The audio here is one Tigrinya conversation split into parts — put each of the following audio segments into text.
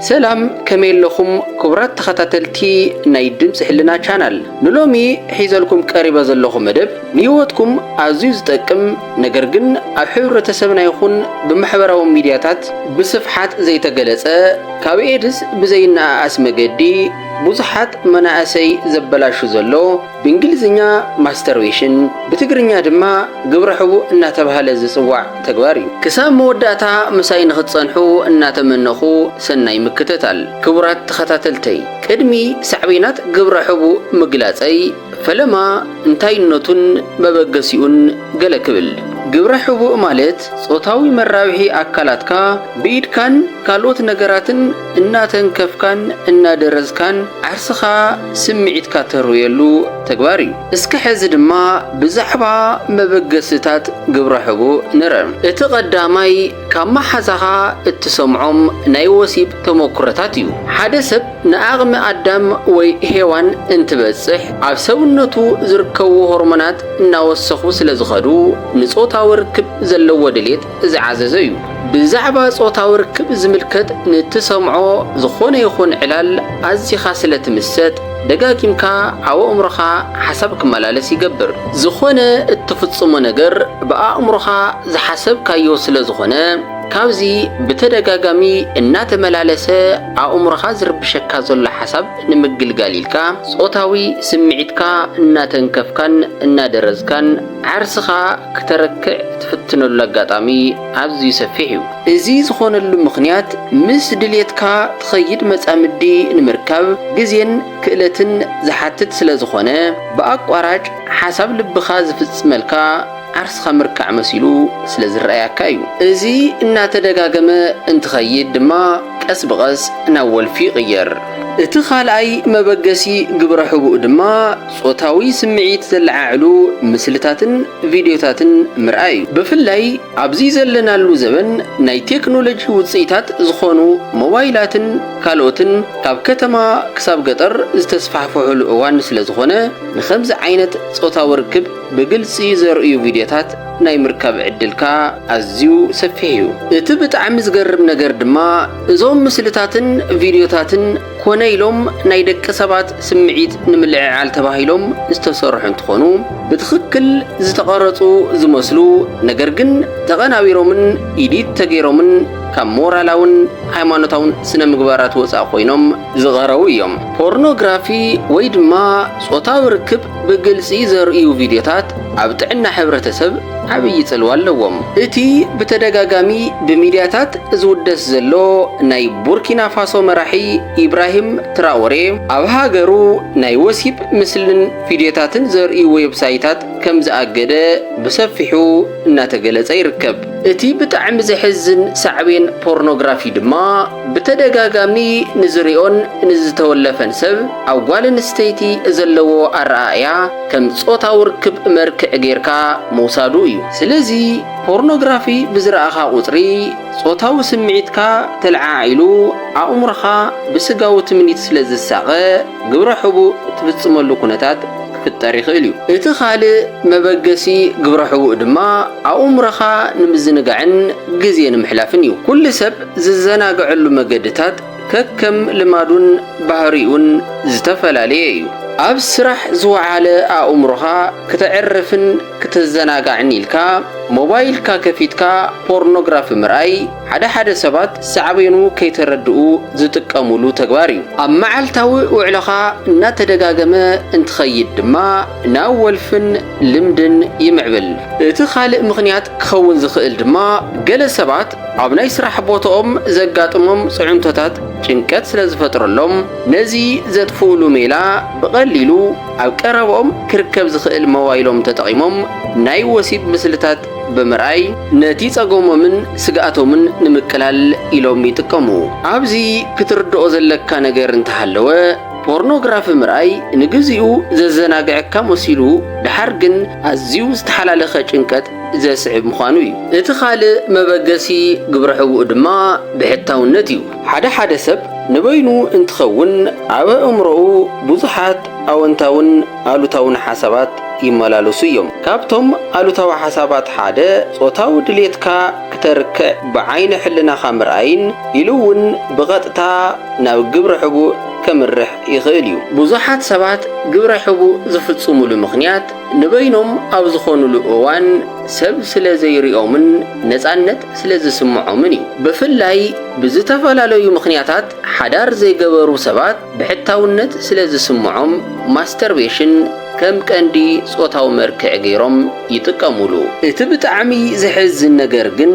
ሰላም ከመይ ኣለኹም ክቡራት ተኸታተልቲ ናይ ድምጺ ሕልና ቻናል ንሎሚ ሒዘልኩም ቀሪበ ዘለኹ መደብ ንህይወትኩም ኣዝዩ ዝጠቅም ነገር ግን ኣብ ሕብረተሰብና ይኹን ብማሕበራዊ ሚድያታት ብስፍሓት ዘይተገለጸ ካብ ኤድስ ብዘይነኣኣስ መገዲ ብዙሓት መናእሰይ ዘበላሹ ዘሎ ብእንግሊዝኛ ማስተርቤሽን፣ ብትግርኛ ድማ ግብረ ሕቡእ እናተብሃለ ዝጽዋዕ ተግባር እዩ። ክሳብ መወዳእታ ምሳይ ንክትጸንሑ እናተመነኹ ሰናይ ምክትታል። ክቡራት ተኸታተልተይ ቅድሚ ሳዕቤናት ግብረ ሕቡእ ምግላጸይ ፈለማ እንታይነቱን መበገሲኡን ገለ ክብል። ግብረ ሕቡእ ማለት ጾታዊ መራብሒ ኣካላትካ ብኢድካን ካልኦት ነገራትን፣ እናተንከፍካን እናደረዝካን ዓርስኻ ስምዒትካ ተርውየሉ ተግባር እዩ። እስከ ሕዚ ድማ ብዛዕባ መበገሲታት ግብረ ሕቡእ ንርእ። እቲ ቀዳማይ ካብ መሓዛኻ እትሰምዖም ናይ ወሲብ ተሞኩሮታት እዩ። ሓደ ሰብ ንኣቕሚ ኣዳም ወይ ሄዋን እንትበጽሕ ኣብ ሰውነቱ ዝርከቡ ሆርሞናት እናወሰኹ ስለዝኸዱ ንጾታዊ ርክብ ዘለዎ ድሌት ዝዓዘዘ እዩ። ብዛዕባ ጾታዊ ርክብ ዝምልከት ንእትሰምዖ ዝኾነ ይኹን ዕላል ኣዚኻ ስለ ትምሰጥ፣ ደጋጊምካ ኣብ ኣእምሮኻ ሓሳብ ክመላለስ ይገብር። ዝኾነ እትፍጽሞ ነገር ብኣእምሮኻ ዝሓሰብካዮ ስለ ዝኾነ፣ ካብዚ ብተደጋጋሚ እናተመላለሰ ኣእምሮኻ ዝርብሸካ ዘሎ ሓሳብ ንምግልጋል ኢልካ፣ ጾታዊ ስምዒትካ እናተንከፍካን እናደረዝካን ዓርስኻ ክተረክዕ እትፍትነሉ ኣጋጣሚ ኣዝዩ ሰፊሕ እዩ። እዚ ዝኾነሉ ምኽንያት ምስ ድሌትካ ትኸይድ መጻምዲ ንምርካብ ግዜን ክእለትን ዝሓትት ስለ ዝኾነ፣ ብኣቋራጭ ሓሳብ ልብኻ ዝፍጽመልካ ዓርስኻ ምርካዕ መሲሉ ስለ ዝረኣያካ እዩ። እዚ እናተደጋገመ እንትኸይድ ድማ ቀስ ብቐስ ናብ ወልፊ ይቕየር። እቲ ካልኣይ መበገሲ ግብረ ሕቡእ ድማ፣ ጾታዊ ስምዒት ዘለዓዕሉ ምስልታትን ቪድዮታትን ምርኣይ እዩ። ብፍላይ ኣብዚ ዘለናሉ ዘበን ናይ ቴክኖሎጂ ውጽኢታት ዝኾኑ ሞባይላትን ካልኦትን ካብ ከተማ ክሳብ ገጠር ዝተስፋሕፍሑሉ እዋን ስለዝኾነ ንኸምዚ ዓይነት ጾታዊ ርክብ ብግልጺ ዘርእዩ ቪድዮታት ናይ ምርካብ ዕድልካ ኣዝዩ ሰፊሕ እዩ። እቲ ብጣዕሚ ዝገርም ነገር ድማ እዞም ምስልታትን ቪድዮታትን ኮነ ኢሎም ናይ ደቂ ሰባት ስምዒት ንምልዕዓል ተባሂሎም ዝተሰርሑ እንትኾኑ ብትኽክል ዝተቐረፁ ዝመስሉ ነገር ግን ተቐናቢሮምን ኢዲት ተገይሮምን ካብ ሞራላውን ሃይማኖታውን ስነ ምግባራት ወፃእ ኮይኖም ዝቐረቡ እዮም። ፖርኖግራፊ ወይ ድማ ፆታዊ ርክብ ብግልጺ ዘርእዩ ቪድዮታት ኣብ ጥዕና ሕብረተሰብ ዓብዪ ጽልዋ ኣለዎም። እቲ ብተደጋጋሚ ብሚድያታት ዝውደስ ዘሎ ናይ ቡርኪናፋሶ መራሒ ኢብራሂም ትራኦሬ፣ ኣብ ሃገሩ ናይ ወሲብ ምስልን ቪድዮታትን ዘርእዩ ዌብሳይታት ከምዝኣገደ ብሰፊሑ እናተገለጸ ይርከብ። እቲ ብጣዕሚ ዘሕዝን ሳዕቤን ፖርኖግራፊ ድማ ብተደጋጋሚ ንዝሪኦን ንዝተወለፈን ሰብ፣ ኣብ ጓል ኣንስተይቲ ዘለዎ ኣረኣእያ ከም ጾታዊ ርክብ መርክዕ ጌርካ ምውሳዱ እዩ። ስለዚ ፖርኖግራፊ ብዝረኣኻ ቁጽሪ ጾታዊ ስምዒትካ ተለዓዒሉ ኣእምሮኻ ብስጋዊ ትምኒት ስለ ዝሳቐ ግብረ ሕቡእ ትፍጽመሉ ኩነታት ክፍጠር ይኽእል እዩ። እቲ ካልእ መበገሲ ግብረ ሕቡእ ድማ ኣእምሮኻ ንምዝንጋዕን ግዜ ንምሕላፍን እዩ። ኩሉ ሰብ ዝዘናግዐሉ መገድታት ከከም ልማዱን ባህሪኡን ዝተፈላለየ እዩ። ኣብ ስራሕ ዝወዓለ ኣእምሮኻ ክተዕርፍን ክተዘናጋዕን ኢልካ ሞባይልካ ከፊትካ ፖርኖግራፊ ምርኣይ ሓደ ሓደ ሰባት ሳዕቤኑ ከይተረድኡ ዝጥቀሙሉ ተግባር እዩ። ኣብ መዓልታዊ ውዕሎኻ እናተደጋገመ እንትኸይድ ድማ ናብ ወልፍን ልምድን ይምዕብል። እቲ ካልእ ምኽንያት ክኸውን ዝኽእል ድማ ገለ ሰባት ኣብ ናይ ስራሕ ቦትኦም ዘጋጥሞም ጽዕንቶታት ጭንቀት ስለ ዝፈጥረሎም፣ ነዚ ዘጥፍኡሉ ሜላ ብቐሊሉ ኣብ ቀረባኦም ክርከብ ዝኽእል ሞባይሎም ተጠቒሞም ናይ ወሲብ ምስልታት ብምርኣይ ነቲ ጸገሞምን ስግኣቶምን ንምቅላል ኢሎም ይጥቀሙ። ኣብዚ ክትርድኦ ዘለካ ነገር እንተሃለወ፣ ፖርኖግራፊ ምርኣይ ንግዚኡ ዘዘናግዐካ መሲሉ ድሓር ግን ኣዝዩ ዝተሓላለኸ ጭንቀት ዘስዕብ ምዃኑ እዩ። እቲ ካልእ መበገሲ ግብረ ሕቡእ ድማ ብሕታውነት እዩ። ሓደ ሓደ ሰብ ንበይኑ እንትኸውን ኣብ ኣእምሮኡ ብዙሓት ኣወንታውን ኣሉታውን ሓሳባት ይመላለሱ እዮም። ካብቶም ኣሉታዊ ሓሳባት ሓደ ጾታዊ ድሌትካ ክተርክዕ ብዓይነ ሕልናኻ ምርኣይን ኢሉ እውን ብቐጥታ ናብ ግብረ ሕቡእ ከምርሕ ይኽእል እዩ። ብዙሓት ሰባት ግብረ ሕቡእ ዝፍጽሙሉ ምኽንያት ንበይኖም ኣብ ዝኾኑሉ እዋን ሰብ ስለ ዘይሪኦምን ነፃነት ስለ ዝስምዖምን እዩ። ብፍላይ ብዝተፈላለዩ ምኽንያታት ሓዳር ዘይገበሩ ሰባት ብሕታውነት ስለ ዝስምዖም ማስተርቤሽን ከም ቀንዲ ፆታዊ መርክዒ ገይሮም ይጥቀሙሉ። እቲ ብጣዕሚ ዘሕዝን ነገር ግን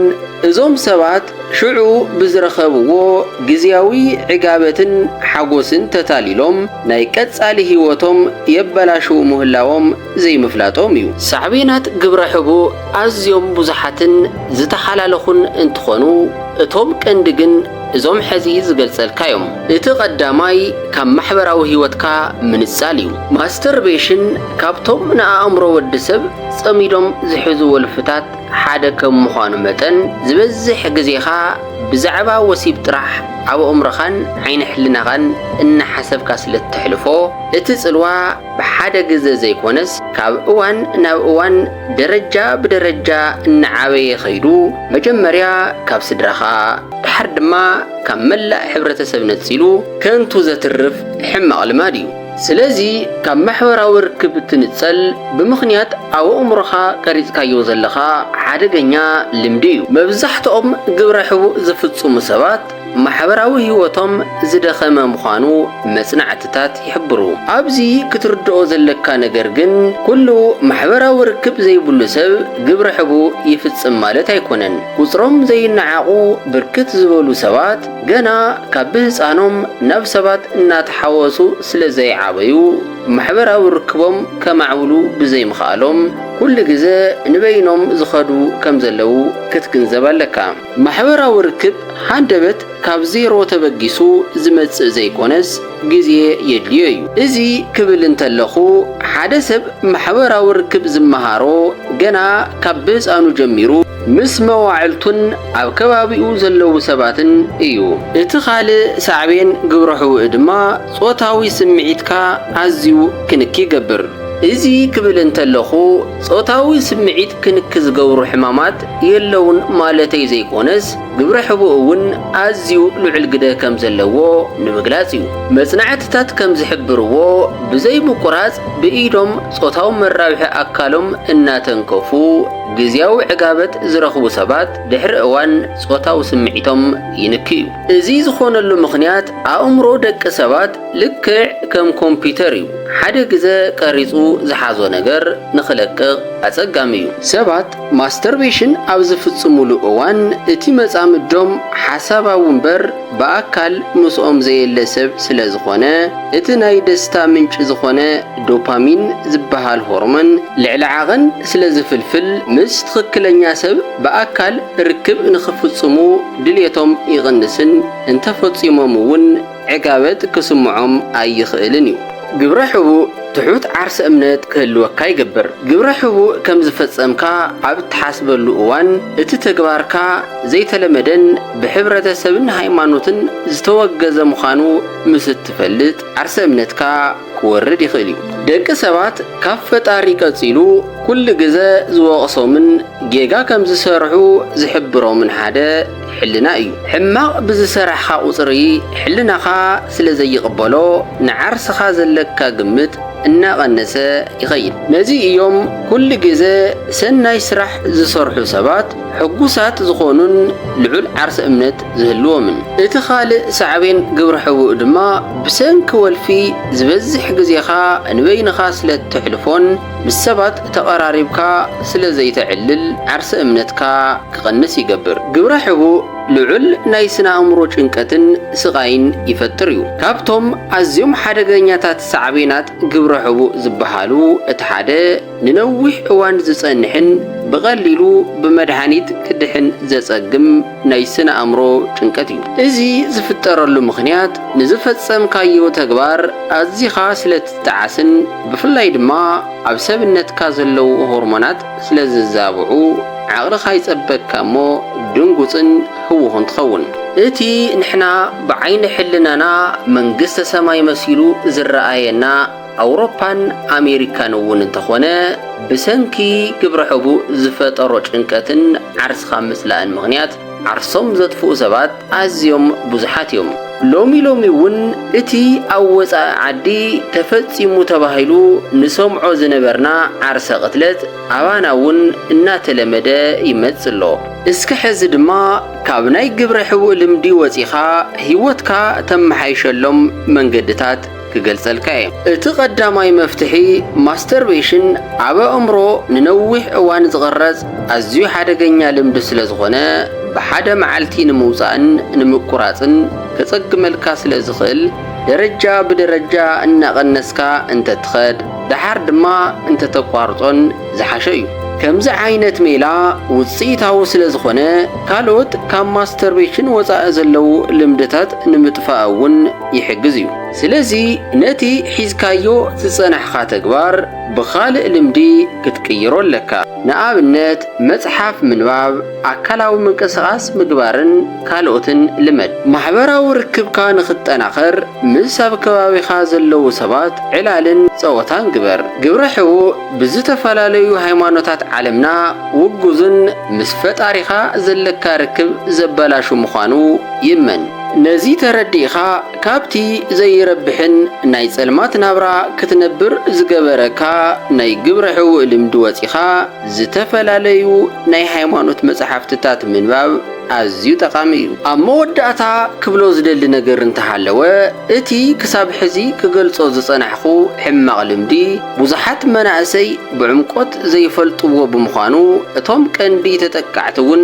እዞም ሰባት ሽዑ ብዝረኸብዎ ግዝያዊ ዕጋበትን ሓጎስን ተታሊሎም ናይ ቀጻሊ ህይወቶም የበላሽዉ ምህላዎም ዘይምፍላጦም እዩ። ሳዕቤናት ግብረ ሕቡእ ኣዝዮም ብዙሓትን ዝተሓላለኹን እንትኾኑ፣ እቶም ቀንዲ ግን እዞም ሕዚ ዝገልጸልካ እዮም። እቲ ቀዳማይ ካብ ማሕበራዊ ህይወትካ ምንጻል እዩ። ማስተርቤሽን ካብቶም ንኣእምሮ ወዲ ሰብ ጸሚዶም ዝሕዙ ወልፍታት፣ ሓደ ከም ምዃኑ መጠን፣ ዝበዝሕ ግዜኻ ብዛዕባ ወሲብ ጥራሕ ኣብ ኣእምሮኻን ዓይኒ ሕልናኻን እናሓሰብካ ስለ እተሕልፎ፣ እቲ ጽልዋ ብሓደ ግዘ ዘይኮነስ ካብ እዋን ናብ እዋን ደረጃ ብደረጃ እናዓበየ ከይዱ መጀመርያ ካብ ስድራኻ ደሓር ድማ ካብ መላእ ሕብረተሰብ ነጺሉ ከንቱ ዘትርፍ ሕማቕ ልማድ እዩ። ስለዚ ካብ ማሕበራዊ ርክብ ትንጸል ብምኽንያት ኣብ ኣእምሮኻ ቀሪጽካዮ ዘለኻ ሓደገኛ ልምዲ እዩ። መብዛሕትኦም ግብረ ሕቡእ ዝፍጽሙ ሰባት ማሕበራዊ ህይወቶም ዝደኸመ ምዃኑ መጽናዕትታት ይሕብሩ። ኣብዚ ክትርድኦ ዘለካ ነገር ግን ኩሉ ማሕበራዊ ርክብ ዘይብሉ ሰብ ግብረ ሕቡእ ይፍጽም ማለት ኣይኮነን። ቁጽሮም ዘይነዓቑ ብርክት ዝበሉ ሰባት፣ ገና ካብ ብህጻኖም ናብ ሰባት እናተሓወሱ ስለ ዘይዓበዩ፣ ማሕበራዊ ርክቦም ከማዕብሉ ብዘይምኽኣሎም፣ ኩሉ ግዘ ንበይኖም ዝኸዱ ከም ዘለዉ ክትግንዘብ ኣለካ። ማሕበራዊ ርክብ ሃንደበት ካብ ዜሮ ተበጊሱ ዝመጽእ ዘይኮነስ ግዜ የድልዮ እዩ። እዚ ክብል እንተለኹ፣ ሓደ ሰብ ማሕበራዊ ርክብ ዝመሃሮ ገና ካብ ብህጻኑ ጀሚሩ፣ ምስ መዋዕልቱን ኣብ ከባቢኡ ዘለዉ ሰባትን እዩ። እቲ ካልእ ሳዕቤን ግብረ ሕውእ ድማ ጾታዊ ስምዒትካ ኣዝዩ ክንኪ ይገብር። እዚ ክብል እንተለኹ ጾታዊ ስምዒት ክንኪ ዝገብሩ ሕማማት የለዉን ማለተይ ዘይኮነስ ግብረ ሕቡእ እውን ኣዝዩ ልዑል ግደ ከም ዘለዎ ንምግላጽ እዩ። መጽናዕትታት ከም ዝሕብርዎ ብዘይ ምቁራጽ ብኢዶም ጾታዊ መራብሒ ኣካሎም እናተንከፉ፣ ግዝያዊ ዕጋበት ዝረኽቡ ሰባት ድሕሪ እዋን ጾታዊ ስምዒቶም ይንክዩ። እዚ ዝኾነሉ ምኽንያት ኣእምሮ ደቂ ሰባት ልክዕ ከም ኮምፒተር እዩ፣ ሓደ ግዘ ቀሪጹ ዝሓዞ ነገር ንኽለቅቕ ኣጸጋሚ እዩ። ሰባት ማስተርቤሽን ኣብ ዝፍጽሙሉ እዋን እቲ መጻምዶም ሓሳባዊ እምበር፣ ብኣካል ምስኦም ዘየለ ሰብ ስለ ዝኾነ፣ እቲ ናይ ደስታ ምንጪ ዝኾነ ዶፓሚን ዝበሃል ሆርሞን ልዕሊ ዓቐን ስለ ዝፍልፍል፣ ምስ ትኽክለኛ ሰብ ብኣካል ርክብ ንኽፍጽሙ ድሌቶም ይቕንስን እንተ ፈጺሞም እውን ዕጋበት ክስምዖም ኣይኽእልን እዩ። ግብረ ሕቡእ ትሑት ዓርሰ እምነት ክህልወካ ይገብር። ግብረ ሕቡእ ከም ዝፈጸምካ ኣብ እትሓስበሉ እዋን፣ እቲ ተግባርካ፣ ዘይተለመደን ብሕብረተሰብን ሃይማኖትን ዝተወገዘ ምዃኑ ምስ እትፈልጥ፣ ዓርሰ እምነትካ ክወርድ ይኽእል እዩ። ደቂ ሰባት ካብ ፈጣሪ ቀጺሉ ኩሉ ግዘ ዝወቕሶምን ጌጋ ከም ዝሰርሑ ዝሕብሮምን ሓደ ሕልና እዩ። ሕማቕ ብዝሰራሕኻ ቁጽሪ ሕልናኻ ስለ ዘይቕበሎ ንዓርስኻ ዘለካ ግምት እናቐነሰ ይኸይድ። ነዚ እዮም ኩሉ ግዘ ሰናይ ስራሕ ዝሰርሑ ሰባት፣ ሕጉሳት ዝኾኑን ልዑል ዓርሰ እምነት ዝህልዎምን። እቲ ካልእ ሳዕቤን ግብረ ሕቡእ ድማ ብሰንኪ ወልፊ ዝበዝሕ ግዜኻ ንበይንኻ ስለ እተሕልፎን ምስ ሰባት ተቐራሪብካ ስለ ዘይተዕልል ዓርሰ እምነትካ ክቐንስ ይገብር። ግብረ ሕቡእ ልዑል ናይ ስነ ኣእምሮ ጭንቀትን ስቓይን ይፈጥር እዩ። ካብቶም ኣዝዮም ሓደገኛታት ሳዕቤናት ግብረ ሕቡእ ዝበሃሉ እቲ ሓደ፣ ንነዊሕ እዋን ዝጸንሕን ብቐሊሉ ብመድሃኒት ክድሕን ዘጸግም ናይ ስነ ኣእምሮ ጭንቀት እዩ። እዚ ዝፍጠረሉ ምኽንያት ንዝፈጸምካዮ ተግባር ኣዚኻ ስለ ትጠዓስን ብፍላይ ድማ ኣብ ሰብነትካ ዘለዉ ሆርሞናት ስለ ዝዛብዑ ዓቕልኻ ይጸበካ እሞ ድንጉጽን ህዉኹን ትኸውን። እቲ ንሕና ብዓይኒ ሕልናና መንግስተ ሰማይ መሲሉ ዝረኣየና፣ ኣውሮፓን ኣሜሪካን እውን እንተኾነ ብሰንኪ ግብረ ሕቡእ ዝፈጠሮ ጭንቀትን ዓርስኻ ምጽላእን ምኽንያት ዓርሶም ዘጥፍኡ ሰባት ኣዝዮም ብዙሓት እዮም። ሎሚ ሎሚ እውን እቲ ኣብ ወጻኢ ዓዲ ተፈጺሙ ተባሂሉ ንሰምዖ ዝነበርና ዓርሰ ቅትለት ኣባና እውን እናተለመደ ይመጽእ ኣሎ። እስከ ሕዚ ድማ ካብ ናይ ግብረ ሕቡእ ልምዲ ወጺኻ ህይወትካ ተመሓይሸሎም መንገድታት ክገልጸልካ እየ። እቲ ቀዳማይ መፍትሒ ማስተርቤሽን ኣብ ኣእምሮ ንነዊሕ እዋን ዝቕረጽ ኣዝዩ ሓደገኛ ልምዲ ስለ ዝኾነ ብሓደ መዓልቲ ንምውጻእን ንምቁራጽን ከጸግመልካ ስለ ዝኽእል ደረጃ ብደረጃ እናቐነስካ እንተትኸድ ደሓር ድማ እንተተቋርጾን ዝሓሸ እዩ። ከምዚ ዓይነት ሜላ ውጽኢታዊ ስለ ዝኾነ ካልኦት ካብ ማስተርቤሽን ወጻኢ ዘለዉ ልምድታት ንምጥፋእ እውን ይሕግዝ እዩ። ስለዚ ነቲ ሒዝካዮ ዝጸናሕኻ ተግባር ብኻልእ ልምዲ ክትቅይሮ ኣለካ። ንኣብነት መጽሓፍ ምንባብ፣ ኣካላዊ ምንቅስቓስ ምግባርን ካልኦትን ልመድ። ማሕበራዊ ርክብካ ንኽጠናኸር ምስ ኣብ ከባቢኻ ዘለዉ ሰባት ዕላልን ጸወታን ግበር። ግብረ ሕቡእ ብዝተፈላለዩ ሃይማኖታት ዓለምና ውጉዝን ምስ ፈጣሪኻ ዘለካ ርክብ ዘበላሹ ምዃኑ ይእመን። ነዚ ተረዲእኻ ካብቲ ዘይረብሕን ናይ ጸልማት ናብራ ክትነብር ዝገበረካ ናይ ግብረ ሕውእ ልምዲ ወጺኻ ዝተፈላለዩ ናይ ሃይማኖት መጽሓፍትታት ምንባብ ኣዝዩ ጠቓሚ እዩ። ኣብ መወዳእታ ክብሎ ዝደሊ ነገር እንተሃለወ እቲ ክሳብ ሕዚ ክገልጾ ዝጸናሕኩ ሕማቕ ልምዲ ብዙሓት መናእሰይ ብዕምቆት ዘይፈልጥዎ ብምዃኑ እቶም ቀንዲ ተጠቃዕቲ እውን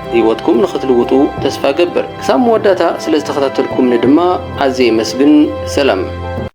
ህይወትኩም ንክትልውጡ ተስፋ እገብር። ክሳብ መወዳእታ ስለዝተኸታተልኩምኒ ድማ ኣዝየ የመስግን። ሰላም።